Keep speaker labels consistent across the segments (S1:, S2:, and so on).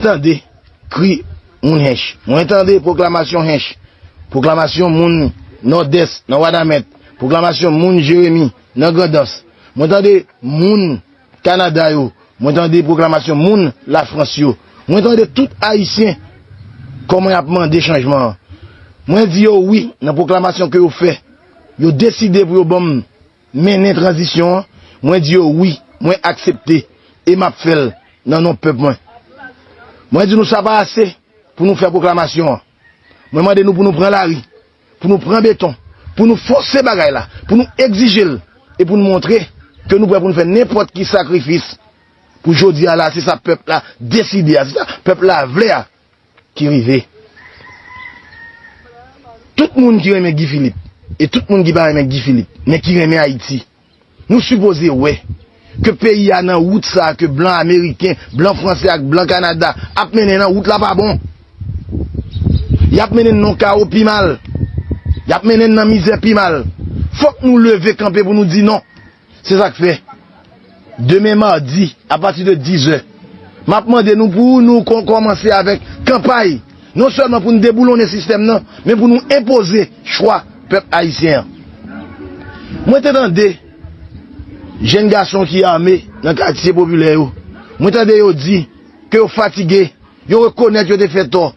S1: Tande kri moun Hench. Mwen tande pwoklamasyon Hench, pwoklamasyon moun Nòdès nan Wanament, pwoklamasyon moun Jeremi nan Grandans. Mwen tande moun Kanada yo, mwen tande pwoklamasyon moun Lafrans yo. Mwen tande tout Ayisyen kòman y ap mande chanjman an. Mwen di yo wi nan pwoklamasyon ke yo fè. Yo deside pou yo ban m Mennen tranzisyon an, mwen di yo wi, mwen aksepte e m ap fè l nan non pèp mwen. Mwen di nou sa pa ase pou nou fè pwoklamasyon an. Mwen mande nou pou nou pran lari, pou nou pran beton, pou nou fòse bagay la, pou nou egzije l e pou nou montre ke nou prè pou nou fè nenpòt ki sakrifis pou jodi a la a, se sa pèp la deside a, se sa pèp la vle a. ki rive tout moun ki renmen Guy Philippe e tout moun ki pa renmen Guy Philippe men ki renmen Ayiti nou sipoze wè ke peyi a nan wout sa ke blan ameriken, blan franse ak blan kanada ap mennen nan wout la pa bon yap mennen nan kawo pi mal yap mennen nan mizè pi mal fòk nou leve kanpe pou nou di non. Se sa k fè, demen madi, apati de dizè, m ap mande nou pou nou kòmanse avèk kanpay, non sèlman pou nou deboulonnen sistèm nan, men pou nou enpoze chwa pèp ayisyen an. Mwen te tande jenn gason ki ame nan katye popilè yo, mwen tande yo di ke yo fatige, yo rekonèt yo te fè tò,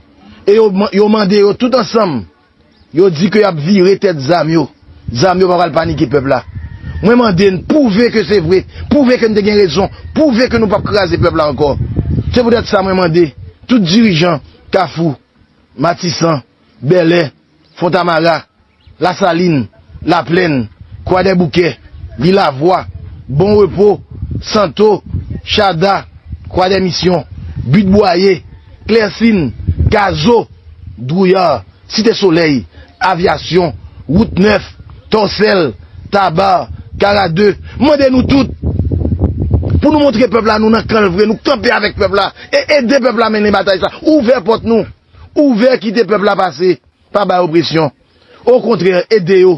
S1: e yo mande yo tout ansanm, Yo di ke yap vire tèt zam yo. Zam yo pa pral panike pèp la. Mwen mande n pwouve ke se vre. Pwouve ke n te gen rezon. Pwouve ke nou pap kraze pèp la ankò. Se poutèt sa mwen mande tout dirijan Kafou, Matisan, Bèlè, Fontamara, Lasalin, Laplèn, Kwadèboukè, Lilavwa, Bon Repo, Santo, Chada, Kwadèmisyon, But Bwaye, Klèsin, Gazo, Drouillard, Site Solèy, Avyasyon, Wout Nèf, Tòsèl, Tabar, Kara 2, m mande nou tout pou nou montre pèp la nou nan kan l vre, nou kanpe avèk pèp la e ede pèp la mennen batay sa, ouvè pòt nou. Ouvè kite pèp la pase pa bay opresyon okontrè ede yo